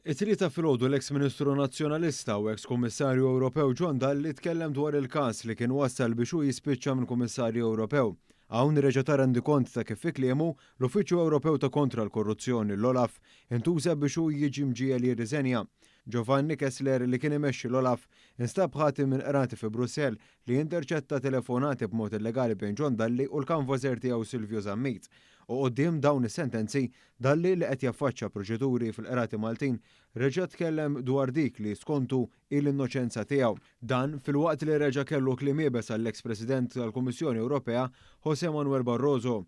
It-Tlieta filgħodu l-eks Ministru Nazzjonalista u eks Kummissarju Ewropew John Dalli tkellem dwar il-każ li kien wassal biex hu jispiċċa minn Kummissarju Ewropew. Hawn reġa' ta rendikont ta' kif fi kliemu, l-Uffiċċju Ewropew ta' Kontra l-Korruzzjoni, l-OLAF, intuża biex hu jiġi mġiegħel jirriżenja. Giovanni Kessler li kien imexxi l-OLAF, instab ħati minn qrati fi Brussell li interċetta telefonati b'mod illegali bejn John Dalli u l-kanvaser tiegħu Silvio Zammit u quddiem dawn is-sentenzi Dalli li qed jaffaċċja proċeduri fil-Qrati Maltin reġa' tkellem dwar dik li skontu hi l-innoċenza tiegħu. Dan filwaqt li reġa' kellu kliem iebes għall-eks President tal-Kummissjoni Ewropea José Manuel Barroso.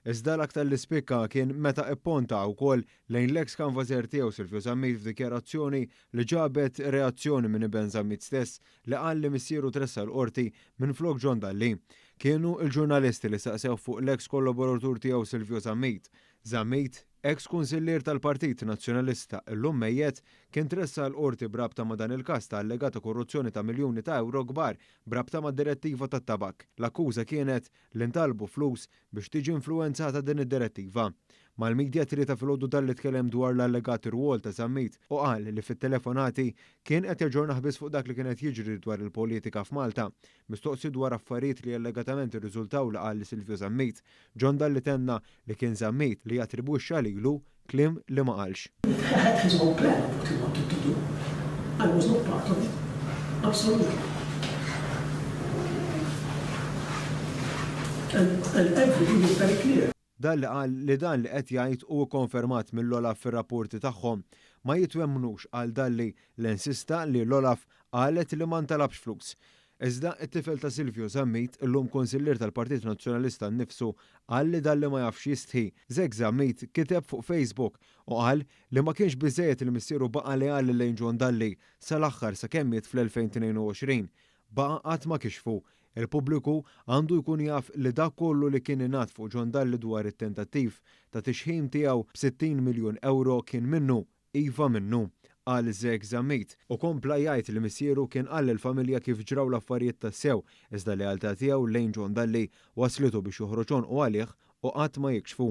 Iżda l-aktar li spikka kien meta ipponta wkoll lejn l-eks kanvażer tiegħu Silvio Zammit f'dikjarazzjoni li ġabet reazzjoni minn iben Zammit stess li qal li missieru tressaq l-Qorti minflok John Dalli. Kienu l-ġurnalisti li staqsewh fuq l-eks kollaboratur tiegħu Silvio Zammit. Zammit, eks kunsillier tal-Partit Nazzjonalista, illum mejjet, kien tressaq l-Qorti b'rabta ma' dan il-każ ta' allegata korruzzjoni ta' miljuni ta' ewro kbar b'rabta mad-Direttiva tat-Tabakk. L-akkuża kienet li ntalbu flus biex tiġi influwenzata din id-Direttiva. Mal-midja t-Tlieta filgħodu dalli tkellem dwar l-allegat rwol ta' Zammit u qal li fit-telefonati kien qed jaġġornah biss fuq dak li kien qed jiġri dwar il-politika f'Malta Mistoqsi dwar affarijiet li allegatament irriżultaw li qal li Silvio Zammit, John Dalli tenna li kien Zammit li attribwixxa lilu kliem li ma qalx. It had his own plan of what he wanted to do, I was not part of it, absolutely. And everything is very clear. Dalli qal li dan li qed jgħid u kkonfermat mill-OLAF fir-rapporti tagħhom ma jitwemmnux għal Dalli li nsista li l-OLAF qalet li ma ntalabx flus. Iżda it-tifel ta' Silvio Zammit, illum Kunsillier tal-Partit Nazzjonalista nnifsu qal li Dalli ma jafx jistħi. Zek Zammit kiteb fuq Facebook u qal li ma kienx biżżejjed li missieru baqa' leali lejn John Dalli sal-aħħar sakemm miet fl-2022. Baqa' qatt ma kixfu Il-pubbliku għandu jkun jaf li dak kollu li kien ingħad fuq John Dalli dwar it-tentattiv ta' tixħim tiegħu b'sittin miljun ewro kien minnu, iva minnu, qal Zek Zammit u kompla jgħid li missieru kien qal lill-familja kif ġraw l-affarijiet tassew iżda l-lealtà tiegħu lejn John Dalli wasslitu biex joħroġ għonqu għalih u qatt ma jikxfu.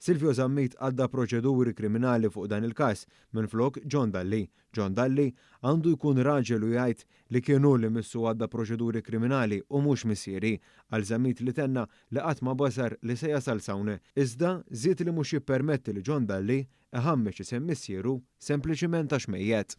Silvio Zammit għadda proċeduri kriminali fuq dan il-każ minflok John Dalli John Dalli għandu jkun raġel u jgħid li kien hu li missu għadda proċeduri kriminali u mhux missieri, qal Zammit li tenna li qatt ma bażar li se jasal s'hawn, iżda żied li mhux jippermetti li John Dalli iħammeġ isem missieru sempliċiment għax mejjet.